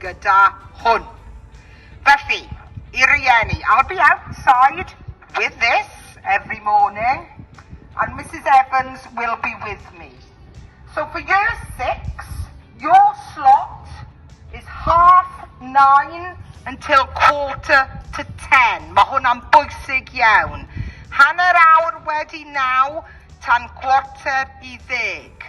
gyda hwn. Felly, i rieni, I'll be outside with this every morning and Misus Evans will be with me. So for year six, your slot is half nine until quarter to ten. Mae hwnna'n bwysig iawn. Hanner awr wedi naw tan quarter i ddeg.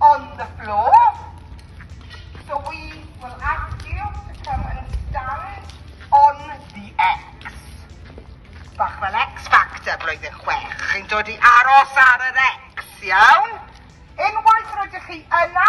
On the floor. So we will ask you to come and stand on the X. Bach fel X Factor blwyddyn chwech. Chi'n dod i aros ar yr X, iawn? Unwaith rydych chi yna,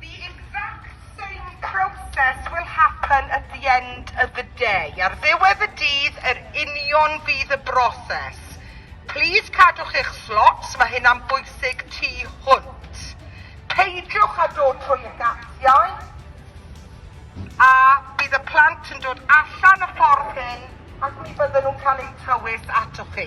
The exact same process will happen at the end of the day, ar ddiwedd y dydd yr union fydd y broses. Plîs cadwch eich slots, mae hynna'n bwysig tu hwnt. Peidiwch â dod trwy y gatiau a bydd y plant yn dod allan y ffordd hyn ac mi fydden nhw'n cael eu tywys atoch chi.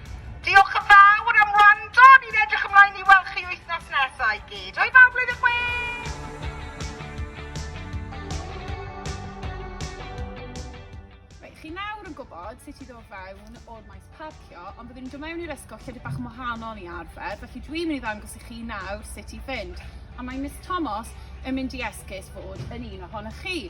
Diolch yn fawr am wrando, ni'n edrych ymlaen i weld chi wythnos nesaf i gyd. Hwyl fawr blwyddyn chwech! Reit, chi nawr yn gwybod sut i ddod fewn o'r maes parcio, ond byddwn ni'n dod mewn i'r ysgol llefydd bach yn wahanol i arfer, felly dwi'n mynd i ddangos i chi nawr sut i fynd. A mae Miss Tomos yn mynd i esgus fod yn un ohonoch chi.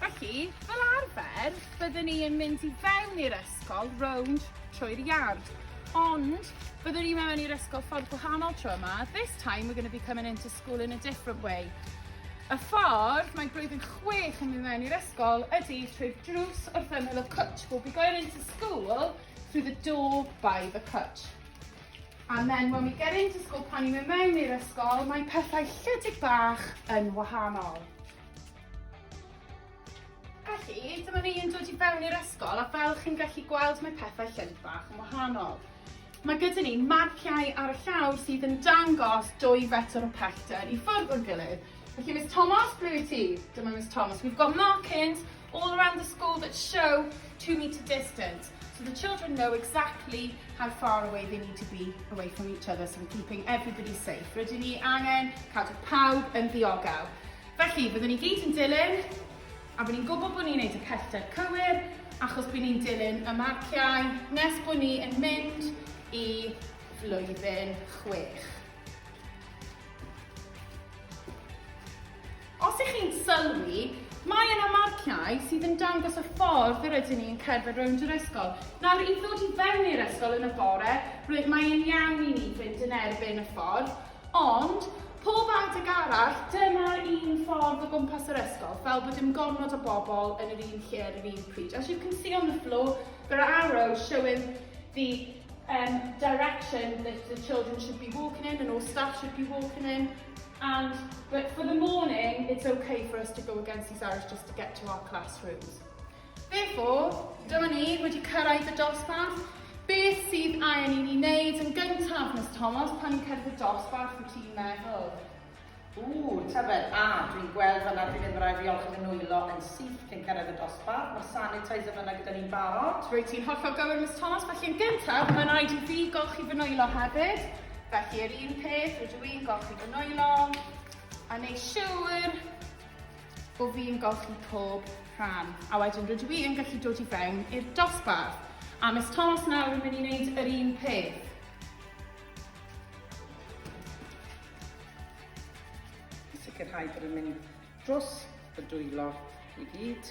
Felly, fel arfer, byddwn ni yn mynd i fewn i'r ysgol rownd trwy'r yard. Ond, byddwn ni mewn i'r ysgol ffordd gwahanol tro yma. This time we're going to be coming into school in a different way. Y ffordd mae blwyddyn chwech yn mynd mewn i'r ysgol ydy trwy'r drws wrth ymyl y cwtch. We'll be going into school through the door by the cwtch. And then when we get into school, pan ni'n mynd mewn i'r ysgol, mae pethau llydig bach yn wahanol. Felly, dyma ni yn dod i fewn i'r ysgol a fel chi'n gallu gweld mae pethau llyd bach yn wahanol. Mae gyda ni marciau ar y llawr sydd yn dangos dwy fetr o pellter i ffwrdd o'r gilydd. Felly Miss Thomas, ble wyt ti? Dyma Miss Thomas. We've got markings all around the school that show two metre distance. So the children know exactly how far away they need to be away from each other so we're keeping everybody safe. Rydyn ni angen cadw pawb yn ddiogel. Felly, byddwn ni gyd yn dilyn, a bod ni'n gwybod bod ni'n gwneud y pellter cywir, achos bod ni'n dilyn y marciau nes bod ni yn mynd i flwyddyn chwech. Os ych chi'n sylwi, mae yna marciau sydd yn dangos y ffordd yr ydyn ni'n cerdded rownd yr ysgol. Nawr, i ddod i fewn i'r ysgol yn y bore, mae e'n iawn i ni fynd yn erbyn y ffordd, Ond, pob adeg arall, dyma'r un ffordd o gwmpas yr ysgol, fel bod dim gormod o bobl yn yr un lle ar yr un pryd. As you can see on the floor, there are arrows showing the um, direction that the children should be walking in and all staff should be walking in. And, but for the morning, it's okay for us to go against these arrows just to get to our classrooms. Therefore, dyma ni wedi cyrraedd y dosbarth. Beth sydd angen i ni wneud yn gyntaf, Miss Thomas, pan ni'n cyrraedd y dosbarth, wyt ti'n meddwl? Ww, tyfed, a, dwi'n gweld fanna bydd e'n rhaid i olchi fy nwylo yn syth cyn cyrraedd y dosbarth. Mae'r sanitizer fanna gyda ni'n barod. Rwyt ti'n hollol gywir, Miss Thomas, felly yn gyntaf, mae'n rhaid i fi golchi fy nwylo hefyd. Felly, yr un peth, rydw i'n golchi fy nwylo, a neud siŵr bo fi'n golchi pob rhan. A wedyn rydw i yn gallu dod i fewn i'r dosbarth. A Miss Thomas nawr yn mynd i wneud yr un peth. sicrhau bod yn mynd dros y dwylo i gyd.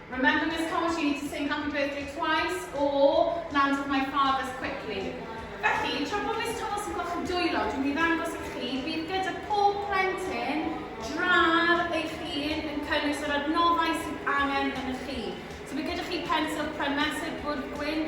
Remember Miss Thomas you need to sing happy birthday twice or land with my fathers quickly. Felly, tra bod Miss Thomas yn gweld chi'n dwylo, dwi'n mynd i ddangos i chi, bydd gyda pob plentyn drar eich hun yn cynnwys yr adnoddau sydd angen yn y chi. So bydd gyda chi pensil pren mesur bwrdd gwyn,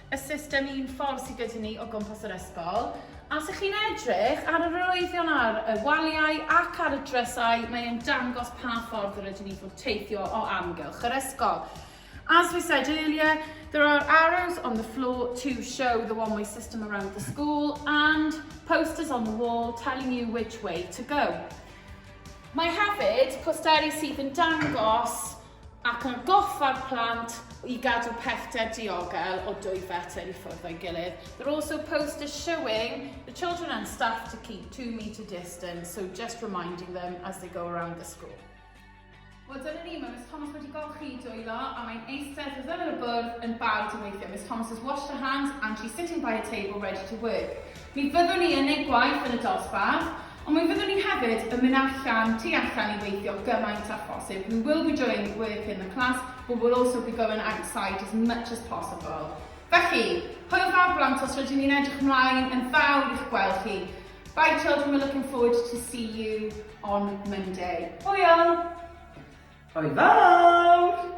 y system un ffordd sydd gyda ni o gwmpas yr ysgol. A os ych chi'n edrych ar yr arwyddion ar y waliau ac ar y drysau, mae'n dangos pa ffordd yr ydyn ni fod teithio o amgylch yr ysgol. As we said earlier, there are arrows on the floor to show the one-way system around the school and posters on the wall telling you which way to go. Mae hefyd posteri sydd yn dangos ac atgoffa'r plant i gadw pellter diogel o dwy fetr i ffwrdd o'i gilydd. They're also poster showing the children and staff to keep two metre distance, so just reminding them as they go around the school. Wel, dyna ni, mae Miss Thomas wedi golchi i dwylo a mae'n eistedd wrth ymyl y bwrdd yn barod i weithio. Miss Thomas has washed her hands and she's sitting by a table ready to work. Mi fyddwn ni yn ei gwaith yn y dosbarth, ond mi fyddwn ni hefyd yn mynd allan, tu allan i weithio gymaint â phosib. We will be doing work in the class, but we'll also be going outside as much as possible. Felly, hwyl fawr blant os rydyn ni'n edrych ymlaen yn fawr i'ch gweld chi. Bye children, we're looking forward to see you on Monday. Hwyl! Hwyl fawr!